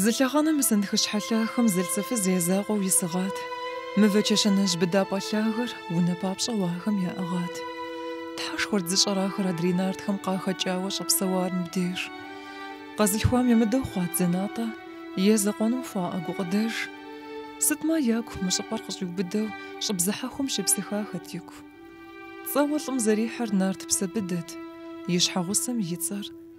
Зы лъэхъэнэ мы сэнтхыщхьэ лъахэм зэлӏзэфыз я закъуэу исыгъат. Мывэ чэщанэжь быдапӏэ лъагэр унэ папщӏэу ахэм яӏыгъат. Тхьэшхуэрт зыщӏэр ахэр адрей нартхэм къахэкӏауэ щӏэпсэуар мыбдеж. Къэзылъхуам ямыдэу хъуат зэнатӏэ, е закъуэным хуаӏэ гукъыдэж. Сытми, ягу мы щӏыпӏэр къыщӏиубыдэу щӏы бзыхьэхуэм щепсыхахэт ику. Цӏэуэ лӏым зэрихьэр нарт Псэбыдэт, и щхьэгъусэм и цӏэр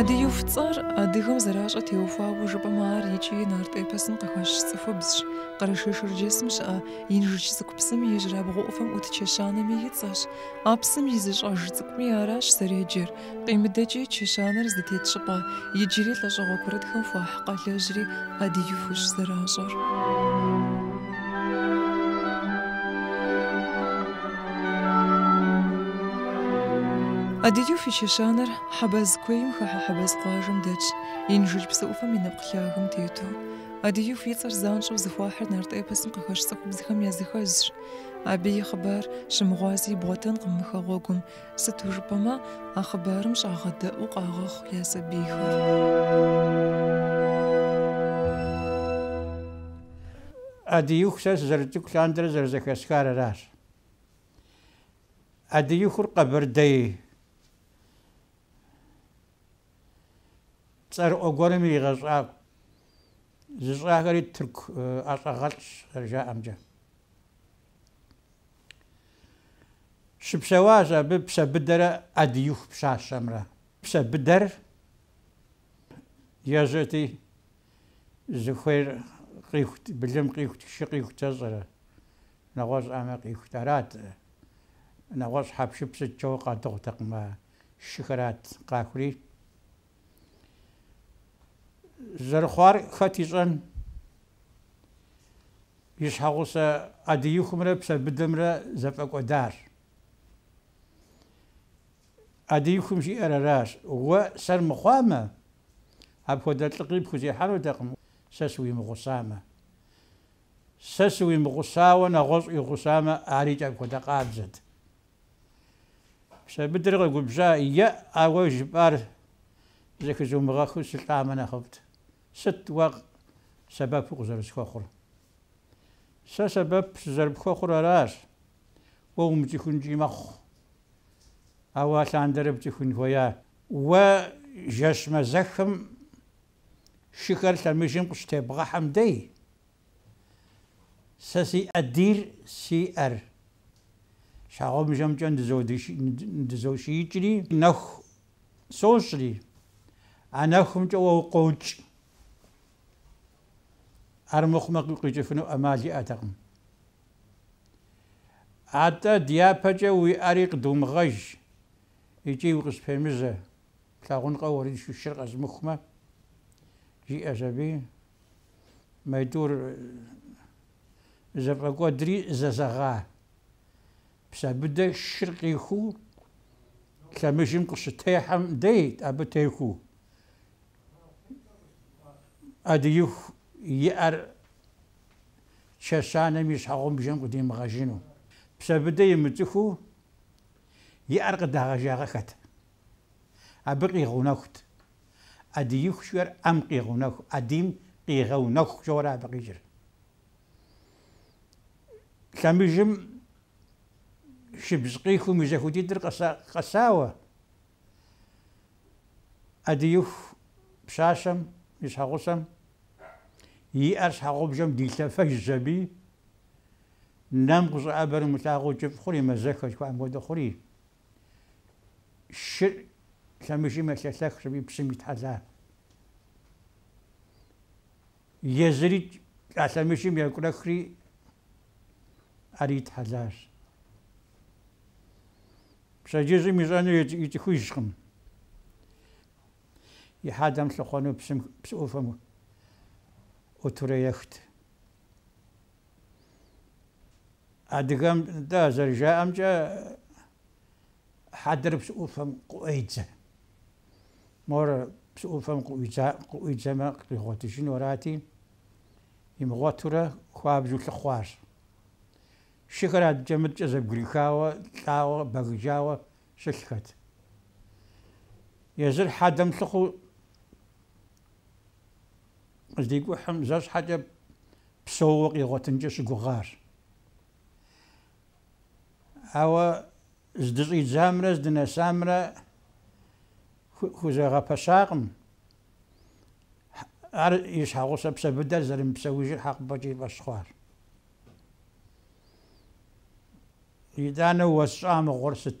Адыюф цӏэр адыгэм зэращӏэ теухуауэ жыпӏэмэ ар икӏи нарт эпосым къыхэщ цӏыхубзщ. Къэрэшей-Шэрджэсым щыӏэ Инжыдж Цӏыкӏу псым и ижьырабгъу ӏуфэм ӏут чэщанэми и цӏэщ. А псым и зы щӏэж цӏыкӏуми аращ зэреджэр. Къимыдэкӏи чэщанэр зытет щӏыпӏэ, иджыри лӏэщӏыгъуэ курытхэм хуахь къалэжьри Адыюфщ зэращӏэр. Адыюф и чэщанэр Хьэбэз куейм хыхьэ Хьэбэз къуажэм дэтщ, Инжыдж псыӏуфэм и нэпкъ лъагэм тету. Адыюф и цӏэр занщӏэу зыхуахьыр нарт эпосым къыхэщ цӏыхубзхэм языхэзщ. Абы и хъыбар щымыгъуази ибгъуэтэнкъым мы хэгъуэгум, Сыту жыпӏэмэ, а хъыбарым щӏагъэдэӏуу къагъэхъу я сабийхэр. Адыиху, сэ сызэрыцӏыкӏу лъандэрэ зэрызэхэсхар аращ. Адыихур къэбэрдей цӏэрыӏуэ гуэрым иригъэщӏа зыщӏахэри тырку ӏэщӏагъэлӏщ зэрыжаӏэмкӏэ. Щыпсэуащ абы Псэбыдэрэ ӏэдииху пщащэмрэ. Псэбыдэр ежьэти, зыхуейр къихут, былым къихут, шы къихут, сщӏэрэ, нэгъуэщӏ ӏэмэ къихут. Арат, нэгъуэщӏ хьэпшып сыткӏэ къадыгъутэкъым, а шыхэрат къахури. Зэрыхъуар хэт ищӏэн? И щхьэгъусэ ӏэдиихумрэ Псэбыдэмрэ зэфӏэкӏуэдащ. ӏэдиихум жиӏэр аращ, Уэ сэр мыхъуамэ, апхуэдэ лӏыгъи пхузехьэнутэкъым, сэ сыуимыгъусамэ. Сэ сыуимыгъусауэ нэгъуэщӏ уигъусамэ, арикӏ апхуэдэ къабзэт. Псэбыдэр къэгубжьа, Е, ауэ жыпӏар зэхызумыгъэхыу сылӏамэ нэхъыфӏт, Сыт уэ сэбэпу къызэрысхуэхъур? Сэ сэбэп сызэрыпхуэхъур аращ, уэ умыцӏыхункӏи мэхъу. Ауэ алъандэрэ пцӏыхун хуея? Уэ жэщ мэзэхым шыхэр лъэмыжым къыщытебгъэхьэм дей, сэ си ӏэдийр си ӏэр щхьэгъубжэмкӏэ ныдызошиикӏри, нэху сощӏри, а нэхумкӏэ уэ укъокӏ. Армыхъумэ, къикӏыфыну ӏэмал иӏэтэкъым. Атӏэ дяпэкӏэ уи ӏэри къыдумыгъэж икӏи укъыспемыжьэ, плъагъункъэ уэриншэу шыр къэзмыхумэ? жиӏэщ абы. Моитӏур зэфӏэкӏуэдри зэзэгъа. Псэбыдэ шыр къихуу лъэмыжым къыщытехьэм дейт абы техуэу. Ӏэдииху и ӏэр чэщанэм и щхьэгъубжэм къыдимыгъэжыну. Псэбыдэ имыцӏыхуу и ӏэр къыдагъэжагъэхэт. Абы къигъэунэхут. Ӏэдииху жиӏэр ӏэм къигъэунэху, ӏэдийм къигъэунэху жэуэрэ абы къикӏыр. Лъэмыжым шыбз къихум и зэхуэдитӏыр къэсауэ Ӏэдииху пщащэм и щхьэгъусэм и ӏэр щхьэгъубжэм дилъэфэжщ аби, нэм къыщӏэӏэбэр умылъагъуу кӏыфӏ хъури, мэзэхэ жыхуаӏэм хуэдэ хъури. Шыр лъэмыжым елъэлъэхщ аби псым итхьэлар. Езырикӏ а лъэмыжым екӏурэхри ар итхьэлащ. Пщэдджыжьым ищӏэну ицӏыхужкъым. И хьэдэм лъыхъуэну псы ӏуфэм ӏутурэ ехт. Адыгэм, нтӏэ, зэрыжаӏэмкӏэ, хьэдэр псы ӏуфэм къыӏуедзэ. Мор псы ӏуфэм къыӏуидзэмэ, къигъуэтыжыну арати, имыгъуэтурэ хуабжьу лъыхъуащ. Шыхэр адэкӏэ-мыдэкӏэ зэбгрихауэ, лӏауэ, бэгыжауэ щылъхэт. Езыр хьэдэм лъыхъуу къыздикӏухьым зэ щхьэкӏэ псэууэ къигъуэтынкӏэ щыгугъар. Ауэ здыщӏидзамрэ здынэсамрэ хузэгъэпэщакъым. Ар и щхьэгъусэ Псэбыдэр зэрымыпсэужыр хьэкъыпӏэкӏэ и фӏэщ хъуар. Итӏанэ уэсщӏа мыгъуэр сыт?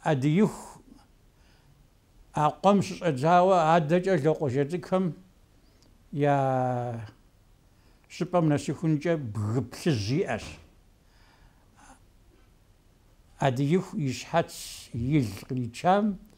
Адииху а къуэм щыщӏэдзауэ адэкӏэ Локъуажэ цӏыкӏхэм я щӏыпӏэм нэсыхункӏэ бгы плъыжь иӏэщ. Адииху и щхьэц, и л къричам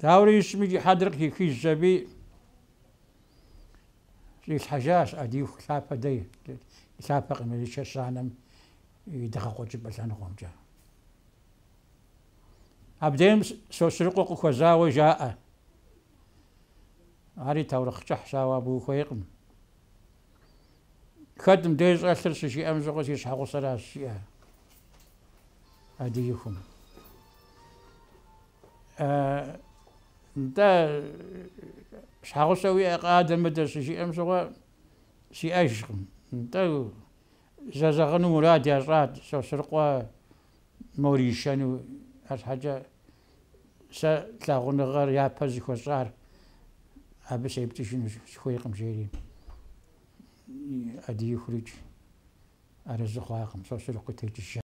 Даурэ ищӏмикӏ и хьэдэр къыхихыжщ аби щӏилъхьэжащ Адииху лъапэ дей, лъапэкъыми, чэщанэм и дыгъэкъуэкӏыпӏэ лъэныкъуэмкӏэ. Абдейм Сосрыкъуэ къыхуэзауэ жаӏэ. Ари таурыхъ кӏыхьщ, ауэ абы ухуейкъым. Хэт мыбдеж щӏэлъыр щыжиӏэм щыгъуэ си щхьэгъусэращ, жеӏэ Адиихум. Нтӏэ, щхьэгъусэ уиӏэкъэ, адэ-мыдэ щыжиӏэм щыгъуэ сиӏэжкъым. Нтӏэ, Зэзэгъыну мурад ящӏат Сосрыкъуэ мор ишэну, арщхьэкӏэ сэ лъагъуныгъэр япэ зыхуэсщӏар абы сепцӏыжыну сыхуейкъым, жери Адиихурикӏ арэзы хъуакъым, Сосрыкъуи текӏыжащ.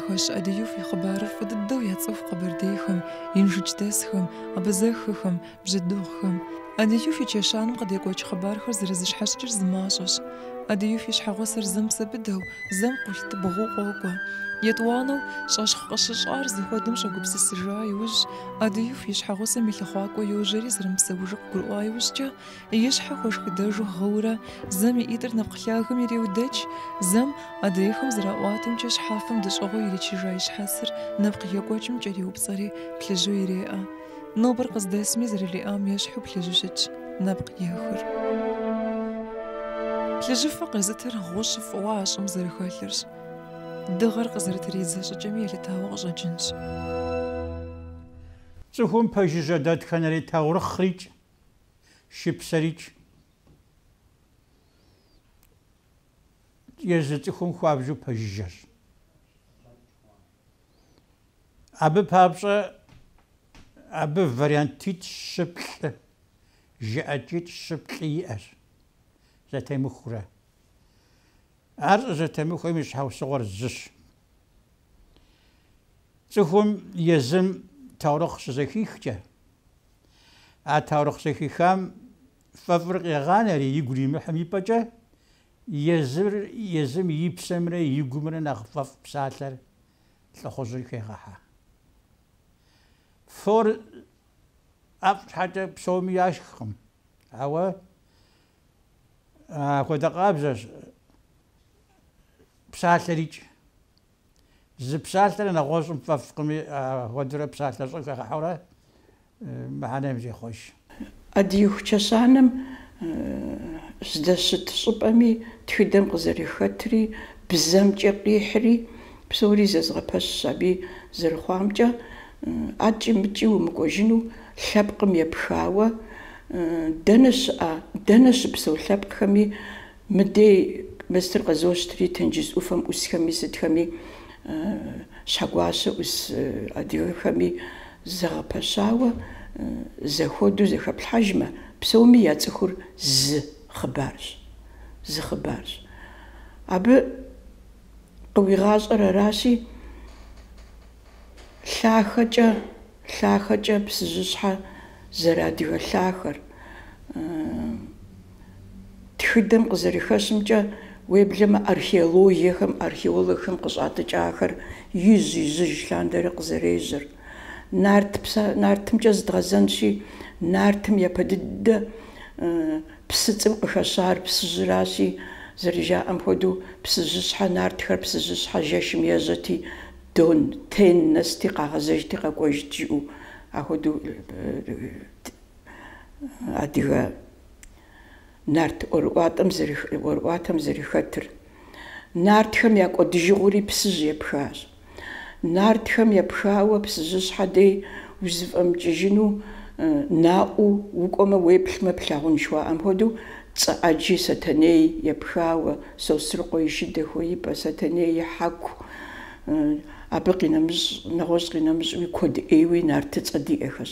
Хэщ ӏэдииф и хъыбарыр фӏы дыдэу яцӏыху къэбэрдейхэм, инжыдждэсхэм, абазэхэхэм, бжьэдыгъухэм. ӏэдииф и чэщанэм къыдекӏуэкӏ хъыбархэр зэрызыщхьэщыкӏыр зы мащӏэщ. ӏэдииф и щхьэгъусэр зэм Псэбыдэу, зэм Къулътыбгъуу къокӏуэ. Етӏуанэу, щӏэщхъу къыщыщӏар зыхуэдэм щӏэгупсысыжа иужь, ӏэдииф и щхьэгъусэм и лъыхъуакӏуэ йожьэри зэрымыпсэужыр къыгурыӏуа иужькӏэ, И щхьэ хуэшхыдэжу гъыурэ, зэм и ӏитӏыр нэпкъ лъагэм иреудэкӏ, зэм, адрейхэм зэраӏуатэмкӏэ, щхьэфэм дэщӏыгъуу иричыжа и щхьэцыр нэпкъ екӏуэкӏым кӏэриупцӏэри, плъыжьу иреӏэ. Нобэр къыздэсми зэрылиӏам ещхьу плъыжьу щытщ нэпкъ ехыр. Плъыжьыфэ къезытыр гъущӏ фӏыуэ а щӏым зэрыхэлъырщ. Дыгъэр къызэрытридзэ щӏыкӏэми елъытауэ къыщӏэкӏынщ. Цӏыхум пэжыжьэ дэтхэнэри таурыхърикӏ, шыпсэрикӏ езы цӏыхум хуабжьу пэжыжьэщ. Абы папщӏэ абы вариантитӏ, щы, плӏы, жыӏэкӏитӏ, щы, плӏы иӏэщ, зэтемыхурэ. Ар щӏызэтемыхуэм и щхьэусыгъуэр зыщ. Цӏыхум езым таурыхъ щызэхихкӏэ, а таурыхъ зэхихам фӏэфӏыр къегъанэри, игу иримыхьым и пӏэкӏэ, езыр, езым и псэмрэ и гумрэ нэхъ фӏэфӏ псалъэр лӏыхъужьыр хегъэхьэ. Фор ӏэфӏ щхьэкӏэ псоми яшхкъым, ауэ Апхуэдэ къабзэщ псалъэрикӏ. Зы псалъэрэ нэгъуэщӏым фӏэфӏкъыми, апхуэдэурэ псалъэ щӏэ хагъэхьэурэ мыхьэнэм зехъуэж. Адыиху чэщанэм здэщыт щӏыпӏэми, тхыдэм къызэрыхэтри, бзэмкӏэ къихьри, псори зэзгъэпэщщ абы зэрыхъуамкӏэ. акӏи-мыкӏи умыкӏуэжыну лъэпкъым епхауэ, дэнэ щыӏэ, дэнэ щыпсэу лъэпкъхэми мыдей мыстыр къызощтри, тенджыз ӏуфэм ӏусхэми сытхэми, Щхьэгуащэ ӏус адыгэхэми зэгъэпэщауэ зэхуэдэу зэхэплъхьэжмэ, псоми яцӏыхур зы хъыбарщ, зы хъыбарщ. Абы. къыуигъащӏэр аращи, лъахэкӏэ, лъахэкӏэ Псыжьыщхьэ зэрыадыгэ лъахэр, тхыдэм къызэрыхэщымкӏэ, уеблэмэ археологиехэм, археологхэм къыщӏатӏыкӏахэр ижь-ижьыж лъандэрэ къызэрежьэр. Нарт, Нартымкӏэ зыдгъэзэнщи, Нартым япэ дыдэ псыцӏэм къыхэщар Псыжьыращи, зэрыжаӏэм хуэдэу, псыжьыщхьэ нартхэр псыжьыщхьэ жэшым ежьэти, дон, тен, нэсти, къагъэзэжти къэкӏуэжт жыӏэу ахуэдэу адыгэ нарт ӏуэрыӏуатэм зэрыхэтыр. Нартхэм я кӏуэдыжыгъуэри Псыжь епхащ. Нартхэм епхауэ Псыжьыщхьэ дей узыфӏэмыкӏыжыну наӏуэу укӏуэмэ уеплъмэ плъагъун жыхуаӏэм хуэдэу цӏэ ӏэджи Сэтэней епхауэ, Сосрыкъуэ и шы дэхуеипӏэ, Сэтэней и хьэку, абы къинэмыщӏ, нэгъуэщӏ къинэмыщӏуи куэд ӏейуи нартыцӏэ диӏэхэщ.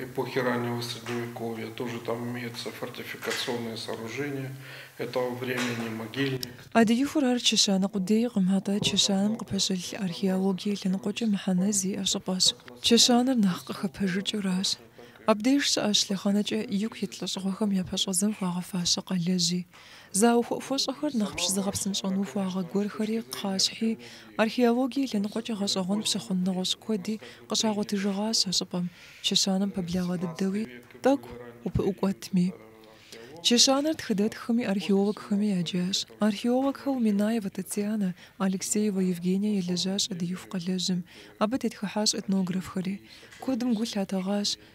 эпохи раннего средневековья, тоже там имеются фортификационные сооружения этого времени, могильник. Адыихур ар чэщанэ къудейкъым, атӏэ чэщанэм къыпэщылъ археологие лъэныкъуэкӏэ мыхьэнэ зиӏэ щӏыпӏэщ. Чэщанэр нэхъ къыхэпэжыкӏыращ. Абдеж щыӏэщ лъэхъэнэкӏэ ику ит лӏэщӏыгъуэхэм я пэщӏэдзэм хуагъэфащэ къалэжьи, зауэ хуэӏухуэщӏэхэр нэхъ пщызыгъэпсынщӏэн ухуагъэ гуэрхэри кхъащхьи, археологие лъэныкъуэкӏэ гъэщӏэгъуэн пщыхъун нэгъуэщӏ куэди къыщагъуэтыжыгъащ а щӏыпӏэм, чэщанэм пэблагъэ дыдэуи тӏэкӏу упыӏукӏуэтми. Чэщанэр тхыдэтххэми археологхэми яджащ. Археологхэу Минаева Татьянэ, Алексеева Евгения елэжьащ Адыиху къалэжьым. Абы тетхыхьащ этнографхэри. Куэдым гу лъатэгъащ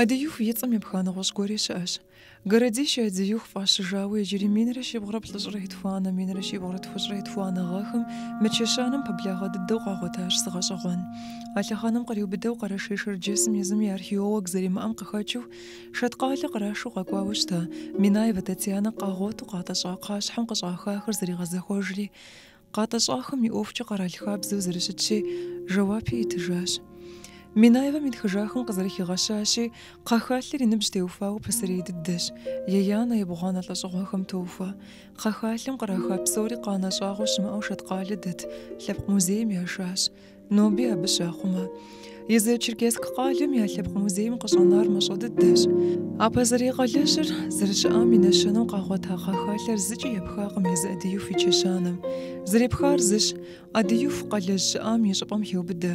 Адыюх и цӏэм епха нэгъуэщӏ гуэри щыӏэщ. Городище Адыюх фӏащыжауэ иджыри минрэ щибгъурэ плӏыщӏрэ итхуанэ, минрэ щибгъурэ тхущӏрэ итхуанэ гъэхэм мы чэщанэм пэблагъэ дыдэу къагъуэтащ зы гъэщӏэгъуэн. А лъэхъэнэм къриубыдэу Къэрэшей-Шэрджэсым езым и археолог зэримыӏэм къыхэкӏыу, Шэткъалэ кърашу къэкӏуауэ щыта Минаевэ Татьянэ къагъуэту къатӏэщӏа кхъащхьэм къыщӏахахэр зэригъэзэхуэжри, къатӏэщӏахэм и ӏуэхукӏэ къэрал хабзэу зэрыщытщи, жэуапи итыжащ. Минаевэм итхыжахэм къызэрыхигъэщащи, кхъэхалъэр и ныбжь теуфауэ пасэрей дыдэщ, еянэ, ебгъуанэ лӏэщӏыгъуэхэм тохуэ. Кхъэхалъэм къраха псори къанэ щӏагъуэ щымыӏэу Шэткъалэ дэт лъэпкъ музейм яшащ. Ноби абы щахъумэ. Езы Черкесск къалэм я лъэпкъ музейм къыщӏэнар мащӏэ дыдэщ. А пасэрей къалэжьыр зэрыщыӏам и нэщэнэу къагъуэта кхъэхалъэр зыкӏи епхакъым езы ӏэдиюф и чэщанэм. Зэрепхар зыщ, ӏэдиюф къалэжь щыӏам и щӏыпӏэм хеубыдэ.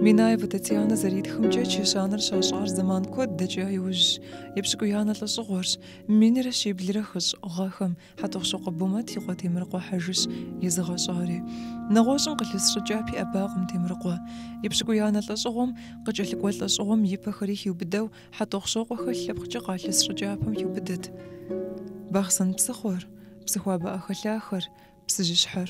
Минаевэ Татьянэ зэритхымкӏэ, чэщанэр щащӏар зэман куэд дэкӏа иужьщ, епщыкӏуиянэ лӏэщӏыгъуэрщ, минрэ щиблрэ хыщӏ гъэхэм, Хьэтӏохъущокъуэ Бумэт и къуэ Темрыкъуэ Хьэжыщ езыгъэщӏари. Нэгъуэщӏым къылъыс щӏыкӏапэ еӏэбакъым Темрыкъуэ. Епщыкӏуиянэ лӏэщӏыгъуэм, къыкӏэлъыкӏуэ лӏэщӏыгъуэм и пэхэри хиубыдэу Хьэтӏохъущокъуэхэр лъэпкъкӏэ къалъыс щӏыкӏапэм хиубыдэт. Бахъсэн псыхъуэр, Псыхуабэ ӏэхэлъахэр, Псыжьыщхьэр.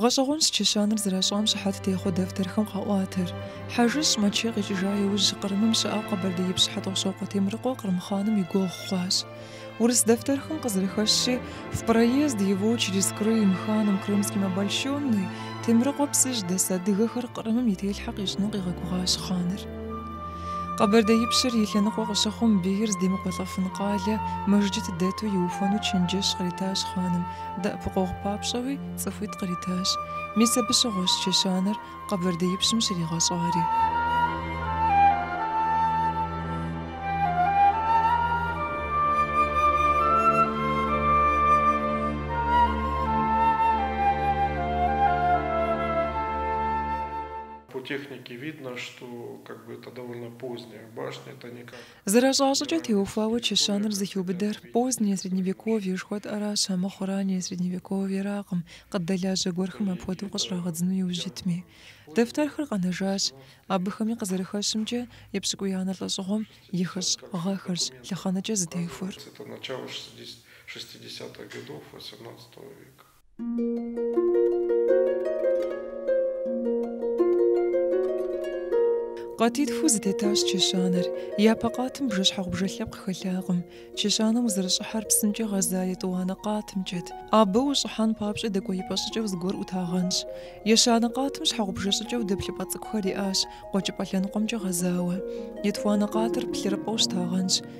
Гъэщӏэгъуэнщ чэщанэр зэращӏам щыхьэт техъуэ дэфтэрхэм къаӏуатэр. Хьэжыщӏ Мэчэ къикӏыжа иужь Кърымым щыӏэу къэбэрдеипщ Хьэтӏохъущокъуэ Темрыкъуэ Кърым хъаным и гуэгъу хъуащ. Урыс дэфтэрхэм къызэрыхэщщи, В проезд его через Крым ханом крымским обольщенный Темрыкъуэ Псыжь дэс адыгэхэр Кърымым и телъхьэ къищӏыну къигъэгугъащ хъаныр. Къэбэрдеипщыр и лъэныкъуэ къыщыхъум, бийр здемыкӏуэлӏэфын къалэ мэжджыт дэту иухуэну чэнджэщ къритащ хъаным. Дэӏэпыкъуэгъу папщӏэуи цӏыхуитӏ къритащ. Мис абы щыгъуэщ чэщанэр къэбэрдеипщым щригъэщӏари. Зэращӏа щӏыкӏэ теухуауэ чэщанэр зыхиубыдэр позднее средневековье жыхуэтӏэращ, амыхъу раннее средневековьеракъым, къыддэлажьэ гуэрхэм апхуэдэу къыщӏрагъэдзыну иужь итми. Дэфтэрхэр къэнэжащ. Абыхэми къызэрыхэщымкӏэ, епщыкӏуиянэ лӏэщӏыгъуэм и хыщӏ гъэхэрщ лъэхъэнэкӏэ зытехуэр. Къатитхуу зытетащ чэщанэр. Япэ къатым бжэщхьэгъубжэ лъэпкъ хэлъакъым. Чэщанэм узэрыщӏыхьар псымкӏэ гъэза етӏуанэ къатымкӏэт. Абы ущӏыхьэн папщӏэ дэкӏуеипӏэ щӏыкӏэу зыгуэр ӏутагъэнщ. Ещанэ къатым щхьэгъубжэ щӏыкӏэу дэплъыпӏэ цӏыкӏухэр иӏащ, къуэкӏыпӏэ лъэныкъуэмкӏэ гъэзауэ. Етхуанэ къатыр плъырыпӏэу щытагъэнщ.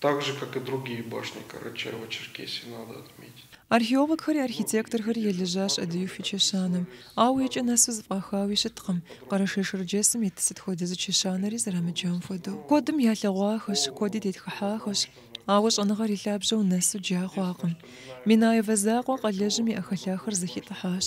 Так же, как и другие башни Карачаево-Черкесии, надо отметить. Археологхэри архитекторхэри елэжьащ ӏэдииху и чэщанэм. Ауэ и кӏэ нэсу зэфӏахауи щыткъым, Къэрэшей-Шэрджэсым ит сыт хуэдэ зы чэщанэри зэрамыджам хуэдэу. Куэдым ялъэгъуахэщ, куэди тетхыхьахэщ, ауэ щӏэныгъэр и лъабжьэу нэсу джа хъуакъым. Минаевэ закъуэ къалэжьым и ӏэхэлъахэр зэхитӏыхьащ.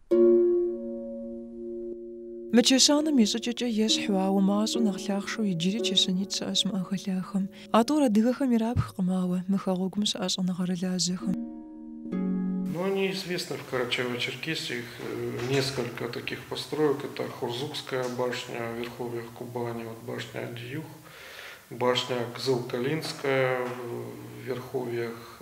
Мы чэщанэм и щӏыкӏэкӏэ ещхьу, ауэ мащӏэу нэхъ лъахъшэу иджыри чэщанитӏ щыӏэщ мы ӏэхэлъахэм. А тӏур адыгэхэм ирапхкъым, ауэ мы хэгъуэгум щыӏэ щӏэныгъэрылажьэхэм. Ну, они известны в Карачаево-Черкесии, их несколько таких построек, это Хурзукская башня в верховьях Кубани, вот башня Адиюх, башня Кызыл-Калинская в верховьях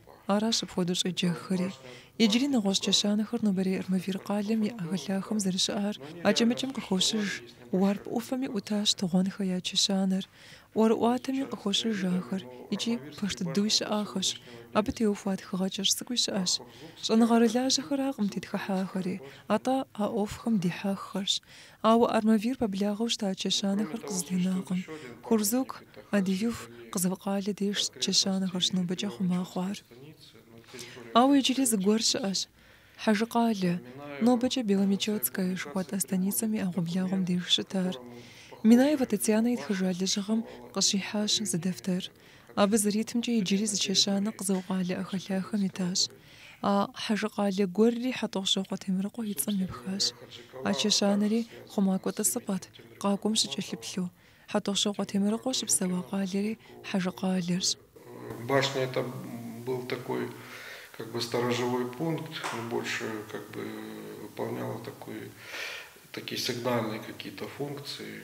Аращ апхуэдэу щӏеджэххэри. Иджыри нэгъуэщӏ чэщанэхэр нобэрей Армавир къалэм и ӏэхэлъахэм зэрыщыӏар акӏэ-мыкӏэм къыхощыж. Уарп ӏуфэми ӏутащ Тыгъуэнхэ я чэщанэр. ӏуэрыӏуатэми къыхощыж ахэр икӏи пэж дыдэуи щыӏахэщ. Абы теухуа тхыгъэ кӏэщӏ цӏыкӏуи щыӏэщ. Щӏэныгъэрылажьэхэракъым тетхыхьахэри, атӏэ а ӏуэхухэм дихьэххэрщ. Ауэ Армавир пэблагъэу щыта чэщанэхэр къызытенакъым. Хурзук, ӏэдииху, Къызылкъалэ деж чэщанэхэрщ нобэкӏэ хъума хъуар. Ауэ иджыри зыгуэр щыӏэщ. Хьэжыкъалэ, нобэкӏэ Беломечетская жыхуэтӏэ станицэм и ӏэгъуэблагъуэм деж щытар. Минаевэ Татьянэ итхыжа лэжьыгъэм къыщихьащ зы дэфтэр. Абы зэритымкӏэ иджыри зы чэщанэ Къызылкъалэ ӏэхэлъахэм итащ. А Хьэжыкъалэ гуэрри Хьэтӏохъущокъуэ Темрыкъуэ и цӏэм епхащ. А чэщанэри хъумакӏуэ тӏысыпӏэт, къакӏуэм щыкӏэлъыплъу. Хьэтӏохъущокъуэ Темрыкъуэ щыпсэуа къалэри Хьэжыкъалэрщ. Башня это был такой как бы сторожевой пункт, он больше как бы выполнял такой такие сигнальные какие-то функции.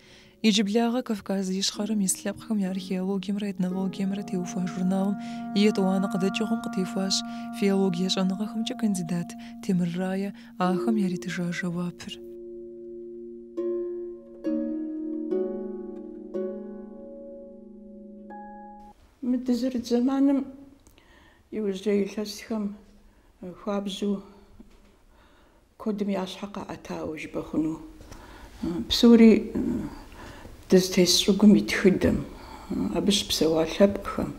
Иджыблагъэ Кавказ Ищхъэрэм ис лъэпкъхэм я археологиемрэ этнологиемрэ теухуа журналым и етӏуанэ къыдэкӏыгъуэм къытехуащ филологие щӏэныгъэхэмкӏэ кандидат Темыр Рае ахэм яритыжа жэуапыр. Мы дызэрыт зэманым иужьрей илъэсхэм хуабжьу Куэдым я щхьэ къаӏэтауэ жыпӏэ хъуну? Псори дызытес щӏыгум и тхыдэм, абы щыпсэуа лъэпкъхэм,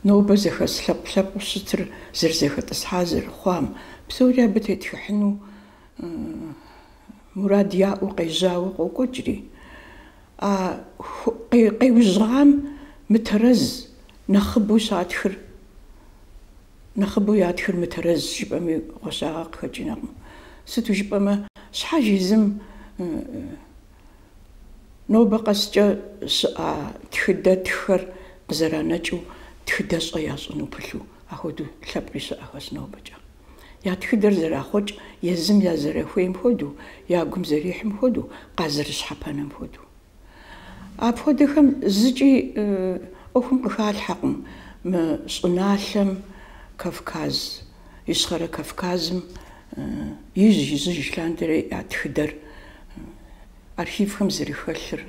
нобэ зэхэс лъэпкъ-лъэпкъыу щытыр зэрызэхэтӏысхьа зэрыхъуам, псори абы тетхыхьыну мурад яӏэу къежьауэ къокӏуэкӏри, а къежьахэм мытэрэз, нэхъыбэу щатхыр. Нэхъыбэу ятхыр мытэрэз жыпӏэми гъуэщагъэ къыхэкӏынэкъым. Сыту жыпӏэмэ, щхьэж езым нобэ къэскӏэ щыӏа тхыдэ тххэр къызэранэкӏыу тхыдэщӏэ ящӏыну пылъу ахуэдэу лъэпкъи щыӏэхэщ нобэкӏэ. Я тхыдэр зэрахъуэкӏ езым я зэрахуейм хуэдэу, я гум зэрихьым хуэдэу, къазэрыщхьэпэнэм хуэдэу. Апхуэдэхэм зыкӏи ӏуэхум къыхалъхьэкъым мы щӏыналъэм Кавказ, Ищхъэрэ Кавказым ижь-ижьыж лъандэрэ я тхыдэр архивхэм зэрыхэлъыр,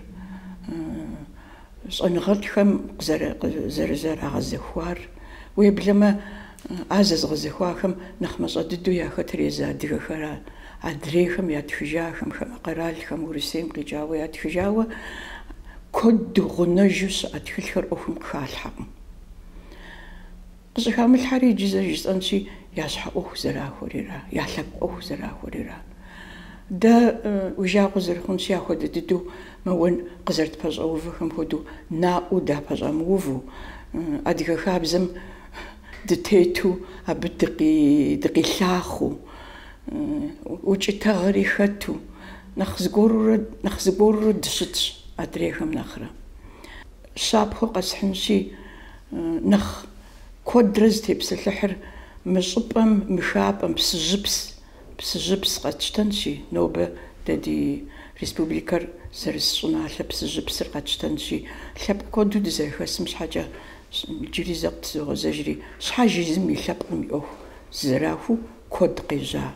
щӏэныгъэлӏхэм къызэрызэрагъэзэхуар. Уеблэмэ, А зэзыгъэзэхуахэм нэхъ мащӏэ дыдэу яхэтыр езы адыгэхэра. Адрейхэм ятхыжахэм, хамэ къэралхэм, Урысейм къикӏауэ ятхыжауэ куэду гъунэжу щыӏэ тхылъхэр ӏуэхум къыхалъхьэкъым. Къыщӏыхамылъхьэри иджы зэрыжысӏэнщи, я щхьэ ӏуэху зэрахуэрира, я лъэпкъ ӏуэху зэрахуэрира. Дэ уи жагъуэ зэрыхъунщи, ахуэдэ дыдэу мэуэн къызэрытпэщӏэувэхэм хуэдэу наӏуэу дапэщӏэмыувэу, адыгэ хабзэм Дытету абы дыкъилъахъэу, укӏытэгъэри хэту, нэхъ зыгуэрурэ дыщытщ адрейхэм нэхърэ. Щапхъэу къэсхьынщи, нэхъ куэдрэ зытепсэлъыхьыр мы щӏыпӏэм, мы хапӏэм псыжьыпс, псыжьыпс къэтщтэнщи, нобэ дэ ди республикэр зэрыс щӏыналъэ псыжьыпсыр къэтщтэнщи, лъэпкъ куэду дызэрыхэсым щхьэкӏэ, Иджыри зэ къытызогъэзэжри, щхьэж езым и лъэпкъым и ӏуэху зэрахуэу куэд къежьа.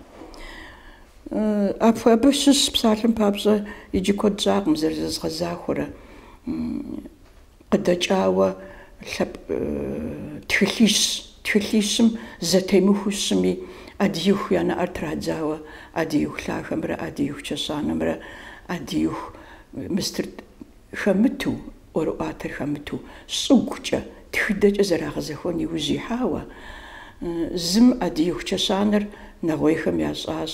Абы щыщ псалъэм папщӏэ иджы куэд щӏакъым зэрызэзгъэзахуэрэ. Къыдэкӏауэ лъэпкъ тхылъищ. Тхылъищым зэтемыхуэу щыми, ӏэдииху я нэӏэр традзауэ ӏэдииху лъахэмрэ ӏэдииху чэщанэмрэ ӏэдииху мыстыр. хэмыту, ӏуэрыӏуатэр хэмыту, щӏыгукӏэ, тхыдэкӏэ зэрагъэзэхуэн иужь ихьауэ, зым ӏэдииху чэщанэр нэгъуейхэм ящӏащ.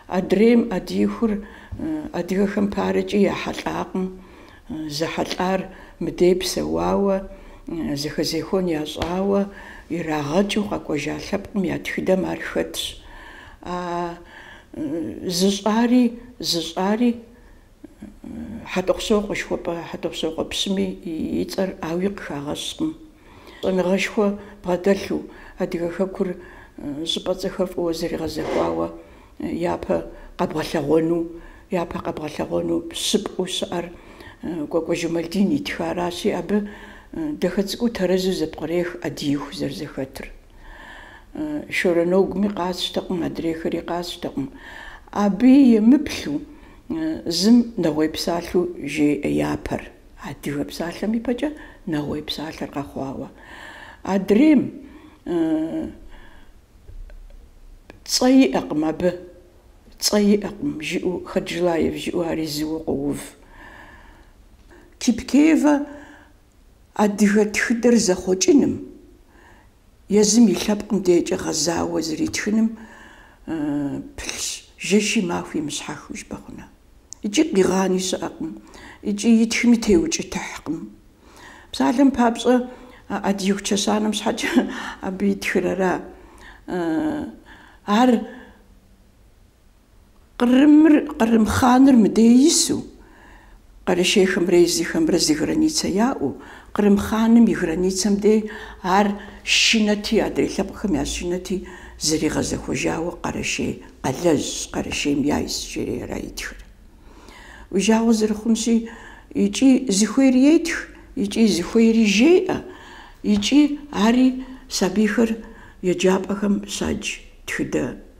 Адрейм ӏэдиихур адыгэхэм парэкӏи яхьэлӏакъым, зэхьэлӏар мыдей псэуауэ, зэхэзехуэн ящӏауэ, ирагъэкӏыу къэкӏуэжа лъэпкъым я тхыдэм ар хэтщ. А зыщӏари зыщӏари. Хьэтӏохъущокъуэ шхуэпӏэ Хьэтӏохъущокъуэ пщыми и цӏэр ауи къыхагъэщкъым. Щӏэныгъэшхуэ бгъэдэлъу, адыгэ хэкур щӏыпӏэ цӏэхэр фӏыуэ зэригъэзэхуауэ япэ къэбгъэлъэгъуэну, япэ къэбгъэлъэгъуэну щӏыпӏэу щыӏэр Кӏуэкӏуэ Жэмалдин итхаращи, абы дахэ цӏыкӏуу тэрэзу зэпкърех ӏэдииху зэрызэхэтыр. Шорэ Нэгуми къасщтэкъым, адрейхэри къасщтэкъым. Абыи емыплъу. Зым Нэгъуей псалъэу жеӏэ япэр, адыгэ псалъэм ипэкӏэ Нэгъуей псалъэр къэхъуауэ. Адрейм цӏэ иӏэкъым абы, цӏэ иӏэкъым, жиӏэу Хаджилаев жиӏэу ари зыуэ къоув. Кипкеевэ Адыгэ тхыдэр зэхъуэкӏыным, езым и лъэпкъым декӏэ гъэзауэ зэритхыным пылъщ, жэщи махуи мыщхьэхыу жыпӏэ хъуну. Икӏи къигъани щыӏэкъым, икӏи итхми теукӏытыхькъым. Псалъэм папщӏэ, ӏэдииху чэщанэм щхьэкӏэ абы итхыр ара. Ар Кърымыр, Кърым хъаныр мыдей ису, Къэрэшейхэмрэ езыхэмрэ зы границэ яӏэу, Кърым хъаным и границэм дей ар шынэти, адрей лъэпкъхэм ящышынэти, зэригъэзэхуэжауэ Къэрэшей къалэжьщ, Къэрэшейм яйс, жери ара итхыр. Уи жагъуэ зэрыхъунщи, икӏи зыхуейри етх, икӏи зыхуейри жеӏэ, икӏи ари сабийхэр еджапӏэхэм щадж тхыдэ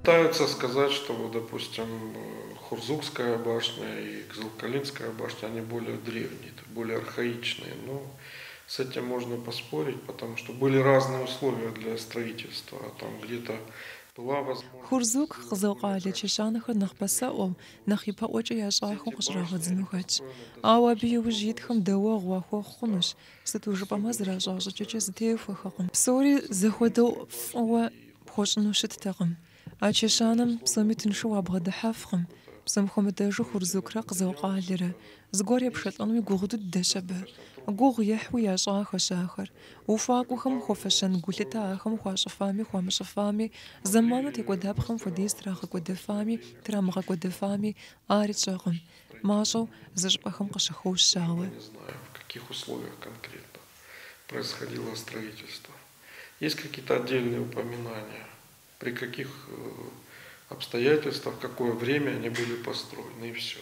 Пытаются сказать, что вот, допустим, Хурзукская башня и Кзылкалинская башня, они более древние, более архаичные, но с этим можно поспорить, потому что были разные условия для строительства, а там где-то была возможность... Хурзук, Кзыл къалэ чэщанэхэр нэхъ пасэӏуэу, нэхъ ипэӏуэкӏэ ящӏахэу къыщӏрагъэдзыну хэтщ. Ауэ абы иужь итхэм дэуэгъу уахуэхъу хъунущ, сыту жыпӏэмэ зэращӏа щӏыкӏэкӏэ зэтехуэхэкъым. Псори зэхуэдэу фӏыуэ пхуэщӏыну щыттэкъым. А чэщанэм псоми тыншу уабгъэдыхьэфкъым, псом хуэмыдэжу Хурзукрэ Къызыл-Къалэрэ. Зыгуэр епшэлӏэнуи гугъу дыдэщ абы. Гугъу ехьуи ящӏахэщ ахэр. Ухуакӏуэхэм хуэфэщэн гулъытэ ахэм хуащӏыфами хуамыщӏыфами, зэману текӏуэдапхъэм хуэдиз трагъэкӏуэдэфами трамыгъэкӏуэдэфами ари тщӏэкъым. Мащӏэу, зы щӏыпӏэхэм къыщыхощ, ауэ. Есть какие-то отдельные упоминания, при каких обстоятельствах, в какое время они были построены и все.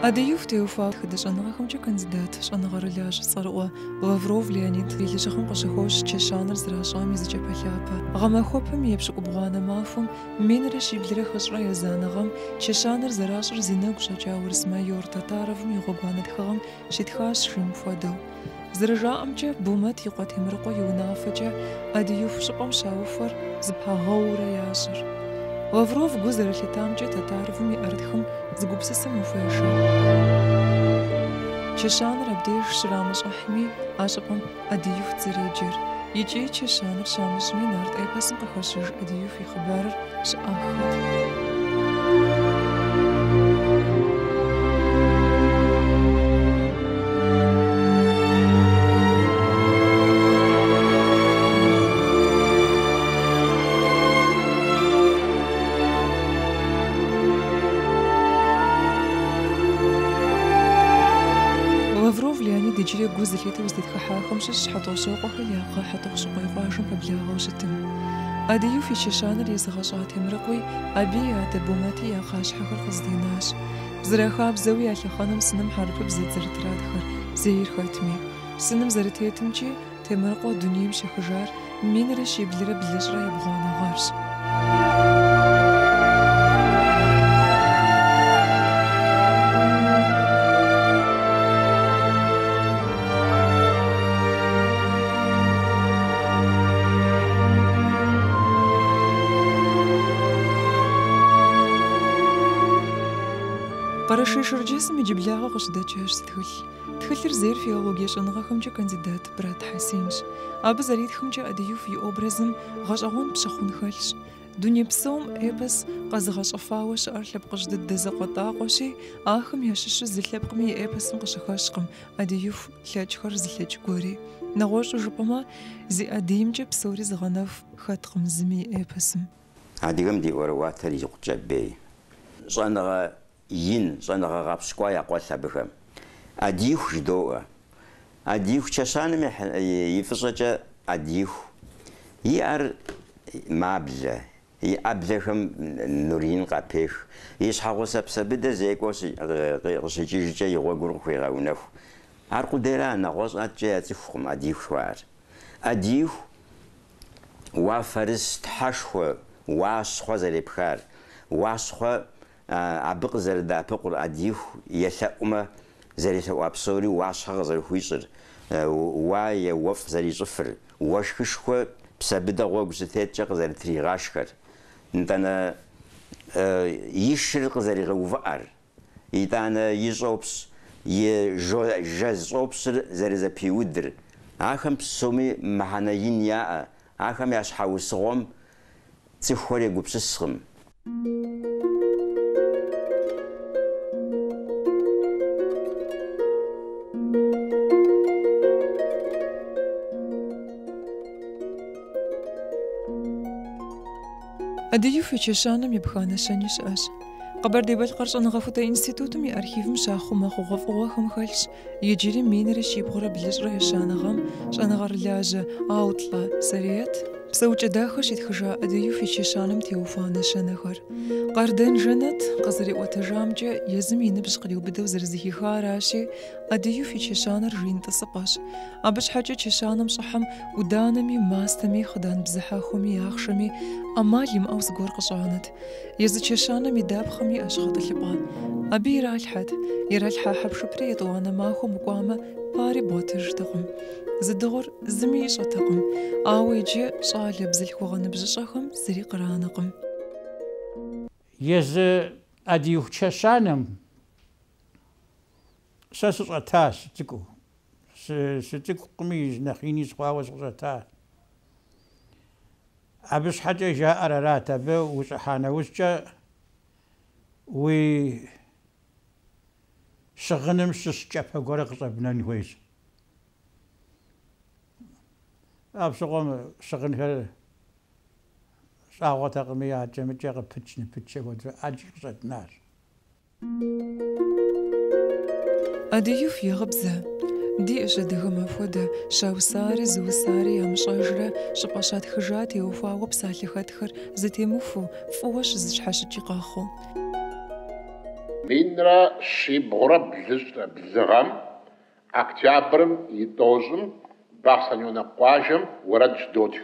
Ӏэдииху теухуауэ тхыдэ щӏэныгъэхэмкӏэ кандидат, щӏэныгъэрылажьэ цӏэрыӏуэ Лавров Леонид и лэжьыгъэм къыщыхощ чэщанэр зэращӏам и зы кӏапэлъапэ. Гъэмахуэпэм и епщыкӏубгъуанэ махуэм Минрэ щиблрэ хыщӏрэ езанэ гъэм чэщанэр зэращӏыр зи нэгу щӏэкӏа урыс майор Татаровым и гъуэгуанэ тхыгъэм щитхащ жиӏэм хуэдэу. Зэрыжаӏэмкӏэ, Бумэт и къуэ Темрыкъуэ и унафэкӏэ Ӏэдииху щӏыпӏэм щаухуэр зэпагъэуурэ ящӏыр. Лавров гу зэрылъитамкӏэ Татаровым и ӏэрытхым зы гупсысэм ухуешэ. Чэщанэр абдеж щрамыщӏыхьми, а щӏыпӏэм. Ӏэдиихут зэреджэр. Икӏи чэщанэр щамыщӏми, нарт эпосым къыхэщыж Ӏэдииху и хъыбарыр щыӏэххэт. Зытхыхьахэм щыщщ Хьэтӏохъущокъуэхэр я кхъэ Хьэтӏохъущыкъуей къуажэм пэблагъэу щытым Ӏэдииху и чэщанэр езыгъэщӏа Темрыкъуи абы и адэ Бумэти я кхъащхьэхэр къызэтенащ. Зэрахабзэуи а лъэхъэнэм сыным хьэрыпыбзэт зэрытратхэр, зейр хэтми. Сыным зэрытетымкӏи, Темрыкъуэ дунейм щехыжар Минрэ щиблрэ блыщӏрэ ебгъуанэ гъэрщ. Къэрэшей-Шэрджэсым иджыблагъэ къыщыдэкӏащ зы тхылъ. Тхылъыр зейр филологие щӏэныгъэхэмкӏэ кандидат. Брат Хьэсенщ. Абы зэритхымкӏэ Ӏэдииху и образым гъэщӏэгъуэн пщыхъун хэлъщ. Дуней псом эпос къэзыгъэщӏыфауэ щыӏэр лъэпкъыжь дыдэ закъуэтӏакъуэщи, ахэм ящыщу зы лъэпкъми и эпосым къыщыхэщкъым Ӏэдииху лъэкӏхэр зылъэкӏ гуэри. Нэгъуэщӏу жыпӏэмэ, зи ӏэдиймкӏэ псори зыгъэнэху хэткъым зыми и эпосым. Адыгэм ди ӏуэрыӏуатэр икъукӏэ бейщ. Щӏэныгъэ ин, щӏэныгъэ гъэпщкӏуа я къуэлъ абыхэм. Ӏэдииху жыдоӏуэ. Ӏэдииху чэщанэм ехь и фӏыщӏэкӏэ Ӏэдииху. И ӏэр маблэ, и ӏэблэхэм нур ин къапех, и щхьэгъусэ Псэбыдэ зекӏуэу къыщикӏыжкӏэ и гъуэгур къыхуегъэунэху. Ар къудейра, нэгъуэщӏ ӏэткӏэ яцӏыхукъым Ӏэдииху жыхуаӏэр. Ӏэдииху, уафэрыс тхьэшхуэ, уащхъуэ зэрепхар, уащхъуэ абы къызэрыдэӏэпыкъур Ӏэдииху елъэӏумэ, зэрелъэӏуа псори уащхъуэ къызэрыхуищӏыр, уае уэфӏ зэрищӏыфыр, уэшхышхуэ Псэбыдэ гъуэгу щытеткӏэ къызэрытригъэшхэр, нтӏанэ и шыр къызэригъэувыӏэр, итӏанэ и щӏопщ, и жэз щӏопщыр зэрызэпиудыр, ахэм псоми мыхьэнэ ин яӏэ, ахэм я щхьэусыгъуэм цӏыхухэр егупсыскъым. Ӏэдииху и чэщанэм епха нэщэнэ щыӏэщ. Къэбэрдей-Балъкъэр щӏэныгъэхутэ институтым и архивым щахъумэ хъугъуэфӏыгъуэхэм хэлъщ Иджыри минрэ щибгъурэ блыщӏрэ ещанэ гъэм щӏэныгъэрылажьэ Аутлэ Сэриет Псэукӏэ-Дахэ щитхыжа Ӏэдииху и чэщанэм теухуа нэщэнэхэр. Къардэн Жэнэт къызэриӏуэтэжамкӏэ, езым и ныбжь къриубыдэу зэрызыхихаращи, Ӏэдииху и чэщанэр жин тӏысыпӏэщ. Абы щхьэкӏэ чэщанэм щӏыхьэм ӏуданэми, мастэми, хъыдан бзыхьэхуэми, ахъшэми ӏэмал имыӏэу зыгуэр къыщӏанэт. Езы чэщанэм и дапхъэм иӏэщ гъэтӏылъыпӏэ. Абы иралъхьэт, иралъхьа хьэпшыпри етӏуанэ махуэм укӏуамэ, пари бгъуэтыжтэкъым. Зыдыгъур зыми ищӏэтэкъым, ауэ иджы щӏалэ бзылъхугъэ ныбжьыщӏэхэм зыри къранэкъым. Езы Ӏэдииху чэщанэм сэ сыщӏэтащ сыцӏыкӏуу. Сыцӏыкӏукъыми, нэхъ ини сыхъуауэ сыкъыщӏэта. Абы щхьэкӏэ жаӏэр арат, абы ущӏыхьа нэужькӏэ уи щыгъыным щыщ кӏапэ гуэрэ къыщӏэбнэн хуейщ. Апщыгъуэм щыгъынхэр щӏагъуэтэкъыми, аджэмыкӏэ къыпыч-ныпыч апхуэдэурэ ӏэджи къыщӏэтнащ. Ӏэдииху и гъыбзэ. Диӏэщ адыгэм апхуэдэ, щаусари зыусари ямыщӏэжрэ, щӏыпӏэ щатхыжа теухуауэ псалъэ хэтхэр зытемыхуу, фӏыуэ щызэщхьэщыкӏи къэхъуу. Минрэ щибгъурэ блыщӏрэ блы гъэм, октябрым и тӏощӏым, Бахъсэнёнок къуажэм уэрэд щыдотх.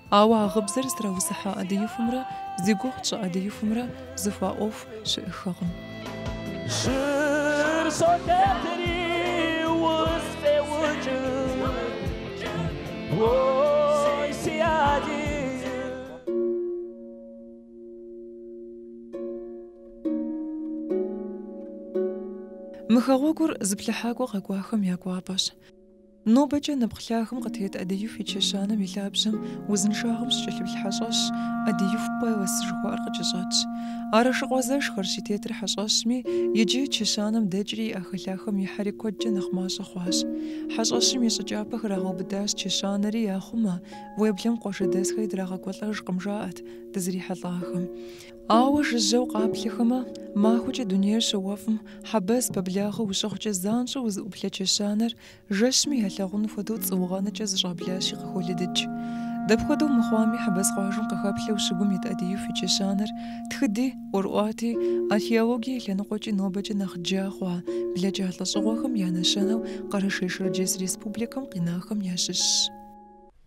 Ауэ а гъыбзэр зытраусыхьа ӏэдиихумрэ зи гугъу тщӏы ӏэдиихумрэ зэхуаӏуэху щыӏэххэкъым. Жьыр солъэтри усфӏеукӏыу, ой, си ӏэдииху. Мы хэгъуэгур зыплъыхьакӏуэ къэкӏуахэм я кӏуапӏэщ. Нобэкӏэ нэпкъ лъагэм къытет ӏэдииху и чэщанэм и лъабжьэм узыншагъэм щыкӏэлъыплъ хьэщӏэщ ӏэдииху Пэлас жыхуаӏэр къыкӏэщӏэтщ. Арэшыкъуэ зэшхэрщ и тетыр хьэщӏэщми, иджы чэщанэм дэкӏри и ӏэхэлъахэм ихьэри куэдкӏэ нэхъ мащӏэ хъуащ. Хьэщӏэщым и щӏы кӏапэ храгъэубыдащ чэщанэри яхъумэ, уеблэм къуажэдэсхэри драгъэкӏуэлӏэжкъым, жаӏэт дызрихьэлӏахэм. Ауэ жыжьэу къаплъэхэмэ, махуэкӏэ дунейр щыуэфӏым, хьэбэз пэблагъэ ущыхъукӏэ занщӏэу узыӏуплъэ чэщанэр жэщми ялъагъун хуэдэу цӏыугъэнэкӏэ зэщӏаблащи къыхолыдыкӏ. Дапхуэдэу мыхъуами, хьэбэз къуажэм къыхэплъэу щыгум ит ӏэдииху и чэщанэр тхыди, ӏуэрыӏуати, археологие и лъэныкъуэкӏи нобэкӏэ нэхъ джа хъуа блэкӏа лӏэщӏыгъуэхэм я нэщэнэу Къэрэшей-Шэрджэс Республикэм къинахэм ящыщщ.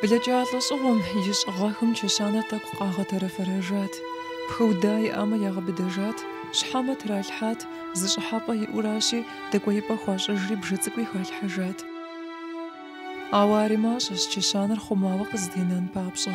Блэкӏа лӏэщӏыгъуэм ищӏ гъэхэм чэщанэр тӏэкӏу къагъэтэрэфэрэжат. Пхыуда иӏамэ ягъэбыдэжат, щхьэмэ тралъхьат, зы щӏыхьэпӏэ иӏэуращи, дэкӏуеипӏэ хуащӏыжри бжэ цӏыкӏуи халъхьэжат. Ауэ ари мащӏэщ чэщанэр хъумауэ къызэтенэн папщӏэ.